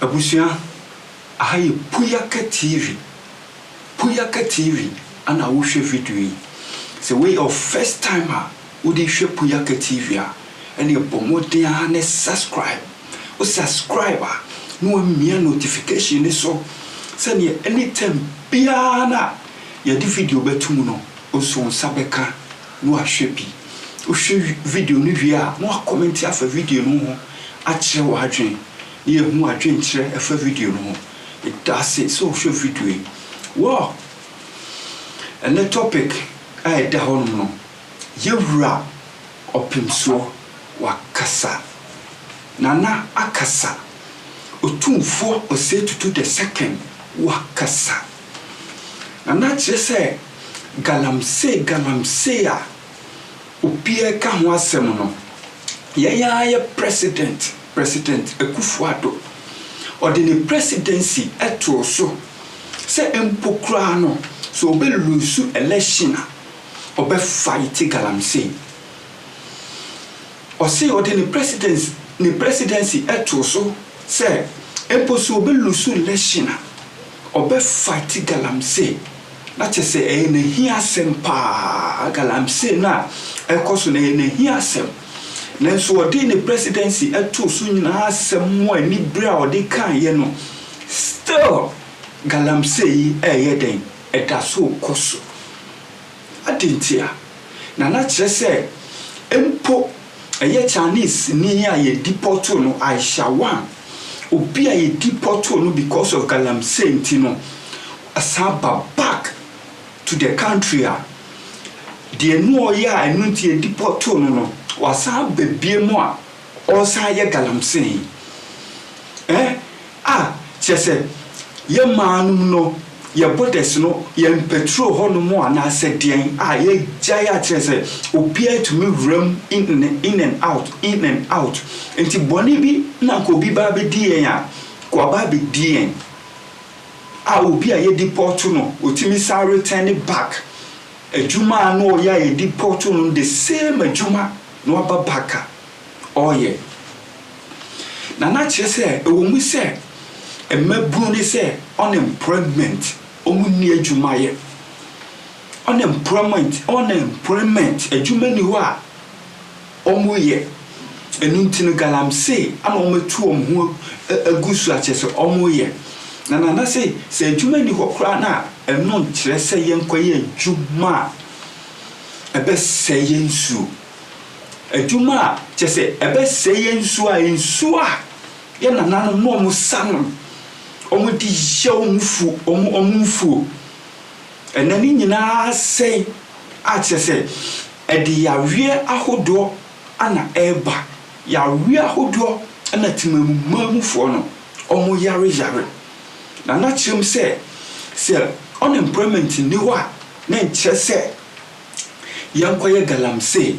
Abusua, aha yɛ Puyaka TV, Puyaka TV na wohwɛ video yi. Sɛ wei yɛ wo first time a, Wode hwɛ Puyaka TV a, ɛneɛ bɔ mmɔden ara ne subscribe. Wo subscribe a, ne wamia notification no so sɛdeɛ anytime biara no a yɛde video bɛto mu no, wo nso wo nsa bɛka na wahwɛ bi. Wohwɛ video no wie a, na wakɔmɛnte afa video no ho akyerɛ w'adwene na yɛahu w'adwenkyerɛ ɛfa video no ho. Medase sɛ wohwɛ video yi. Wow! Ɛnɛ topic a ɛda hɔnom no, Yɛ wura ɔpemsoɔ wakasa Nana akasa Otumfoɔ Osei Tutu the second wakasa Nana kyerɛ sɛ galamsey galamsey a obiara ka ho asɛm no yɛn ara yɛ president president Akuffo Addo ɔde ne presidency too so sɛ mpo koraa no sɛ ɔbɛ loose election a ɔbɛfae tse galamsey. Ɔse ɔde ne presidence ne presidency too so sɛ mpo sɛ obe lusu election a, ɔbɛfae tse galamsey. Na kyerɛ sɛ ɛyɛ n'ahia asɛm paa, galamsey no a ɛkɔ so no ɛyɛ n'ahia asɛm. Nanso ɔde ne presidency too so nyinaa asɛm mu anibere a ɔde kaeɛ no, still galamsey yi reyɛ dɛn? ɛda so rekɔ so. Adɛn ntia? Na na kyerɛ sɛ mpo ɛyɛ Chinese ni a yɛdipɔtoo no, Aisha Wang, obi a yɛdipɔtoo no because of galamsey nti no, ɔsan aba back to the country a, deɛ na ɔyɛ a ɛno nti yɛdipɔtoo no no, wasan aba biom a, Ɔresan yɛ galamsee eh a kyerɛ sɛ yɛ mmaa nom no yɛ borders no yɛn patrol hɔ nom anaasɛ deɛn a yɛgyae a kyerɛ sɛ obiara tumi wura mu in in and out in and out nti bɔne bi na nka obi ba abɛdi yɛn a nka waba abɛdi yɛn a obi a yɛdi pɔɔto no otumi san return back adwuma a na ɔyɛ a yɛdi pɔɔto no the same adwuma na waba Baka ɔɔyɛ. Na na kyerɛ sɛ ɛwɔ mu sɛ mmabunu ne sɛ unemployment wɔn nni adwuma yɛ. Unemployment unemployment adwuma nni hɔ a wɔyɛ. Ɛno nti no galamsey ana wɔn atu wɔn ho agu so a kyerɛ sɛ wɔyɛ. Na Nana se sɛ adwuma nni hɔ koraa no a ɛno nkyerɛ sɛ yɛnkɔyɛ adwuma a. ɛbɛsɛe yɛn nsuo adwuma a kyɛ sɛ ɛbɛsɛe yɛn nsuo a nsuo a yɛn nananom na wɔn sa nom wɔn de yɛ wɔn fu wɔn wɔn mfuo ɛnɛ ne nyinaa sɛe a kyɛ sɛ ɛde yareɛ ahodoɔ ana ɛreba yareɛ ahodoɔ ɛna temamumamufoɔ no wɔn yare yare na na kyerɛm sɛ sɛ unemployment ni hɔ a. Menkyerɛ sɛ yɛnkɔyɛ galamsey.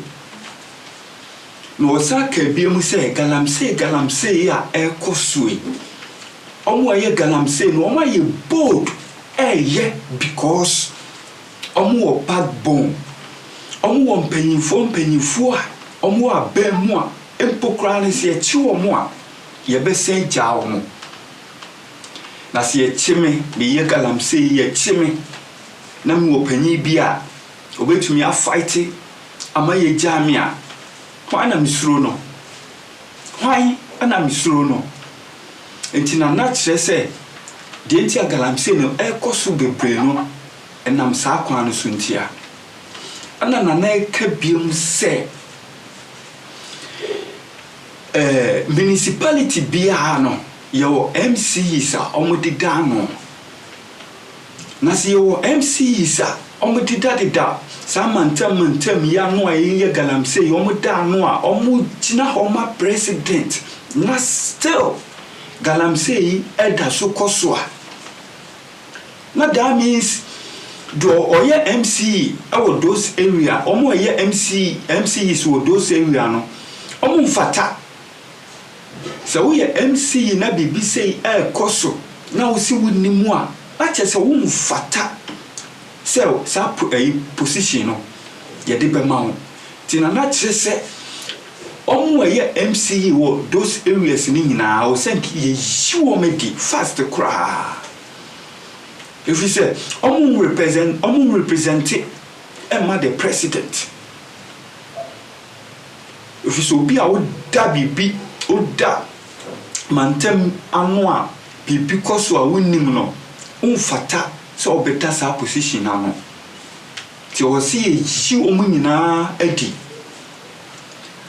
Na wɔsan kaa bio mu sɛ, Galamsey, galamsey yi a ɛrekɔ so yi, wɔn a wɔyɛ galamsey no, wɔayɛ bold reyɛ because wɔwɔ backbone. Wɔwɔ mpanyimfoɔ mpanyimfoɔ a wɔwɔ abam mu a mpo koraa no, sɛ yɛkye wɔn a, yɛbɛsan agyaa wɔn. Na sɛ yɛkye me, meyɛ galamsey yi, yɛkye me na mewɔ panyin bi a obetumi afaete ama yɛagyaa me a, hwan na mesuro no? Hwan na mesuro no? Enti na na kyerɛ sɛ deɛ nti a galamsey no rekɔ so bebree no, ɛnam saa kwan no so nti a. Ɛna Nana reka biom sɛ, ɛɛ municipality biara no, yɛwɔ MCEs a wɔdeda ano. Na sɛ yɛwɔ MCEs a wɔdedadeda saa mantam mantam yi ano a yɛyɛ galamsey, wɔda ano a wɔgyina hɔ ma president na still galamsey yi da so kɔ so a, na that means deɛ ɔyɛ MCE wɔ those area, wɔn a wɔyɛ MCE, MCEs wɔ those area no, wɔmfata. Sɛ woyɛ MC yi na biribi sei ɛrekɔ so na wose wonnim a, na kyerɛ sɛ womfata sɛ saa position no yɛde bɛma wo. Nti na na kyerɛ sɛ wɔn a ɛyɛ MC yi wɔ those areas no nyinaa ɛwɔ sɛ nka yɛyi wɔn adi fast koraa. Ɛfiri sɛ wɔn represent wɔn represent mma the president. Efisɛ obi a woda biribi, woda mantam ano a biribi kɔ so a wonnim no, womfata sɛ wobɛda saa position no ano. Nti ɛwɔ sɛ yɛyi wɔn nyinaa adi.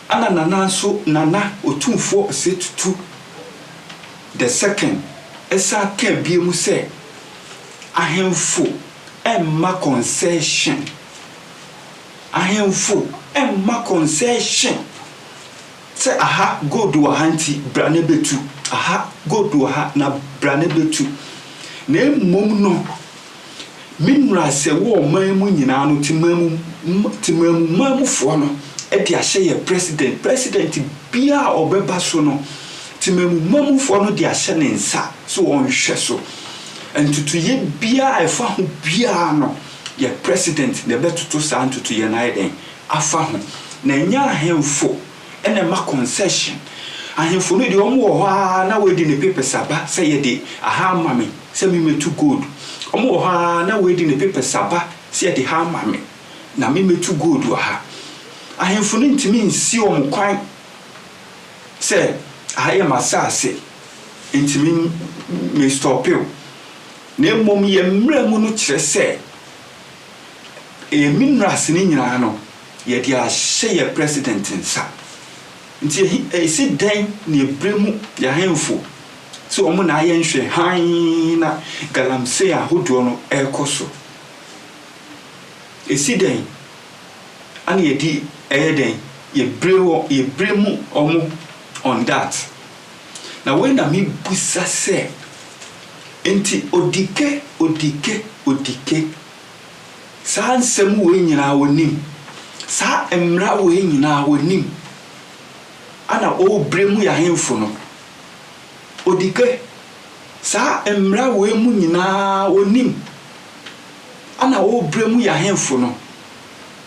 Ɛna Nana nso, Nana Otumfoɔ Osei Tutu the second san kaa biom sɛ ahemfo mma concession. Ahemfo mma concession sɛ aha gold wɔ ha nti bra na bɛtu, aha gold wɔ ha na bra na bɛtu. Na mmom no, me mmarahyɛ wɔ ɔman mu nyinaa no, temamumamufoɔ no de ahyɛ yɛn president. President biara a ɔbɛba so no, temamumamufoɔ no de ahyɛ ne nsa sɛ ɔnhwɛ so. Ntutuiɛ biara a ɛfa ho biara no, Yɛn president na ɛbɛtoto saa ntotoyɛ no ayɛ dɛn afa ho? Na ɛnyɛ ahemfo na ɛma concession. Ahemfo no deɛ wɔn wɔ hɔ ara na wɔadi ne papers aba sɛ yɛde aha ama me sɛ me mɛtu gold. Wɔn wɔ hɔ ara na wɔadi ne papers aba sɛ yɛde ha ama me na me mɛtu gold wɔ ha. Ahemfo no ntumi nsi wɔn kwan sɛ aha yɛ m'asaase nti me me stɔpe wo. Na mmom yɛn mmara mu no kyerɛ sɛ ɛyɛ me nnura ase no nyinaa no yɛde ahyɛ yɛn president nsa. Nti ɛhe ɛsi dɛn na ɛbrɛ mu yɛn ahemfo sɛ wɔn na ayɛ nhwɛ hann na galamsey ahodoɔ no ɛrekɔ so? Ɛsi dɛn ana yɛde ɛyɛ dɛn yɛbrɛ wɔ yɛbrɛ mu wɔn on that? Na wei na mebisa sɛ, Enti Odike, Odike, Odike, saa nsɛm wei nyinaa wonim? Saa mmara wei nyinaa wonim? Ana worebrɛ mu yɛ ahemfo no? Odike, saa mmara wei mu nyinaa wonim? Ana worebrɛ mu yɛ ahemfo no?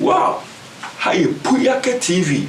Wow! Ha yɛ Puyake TV.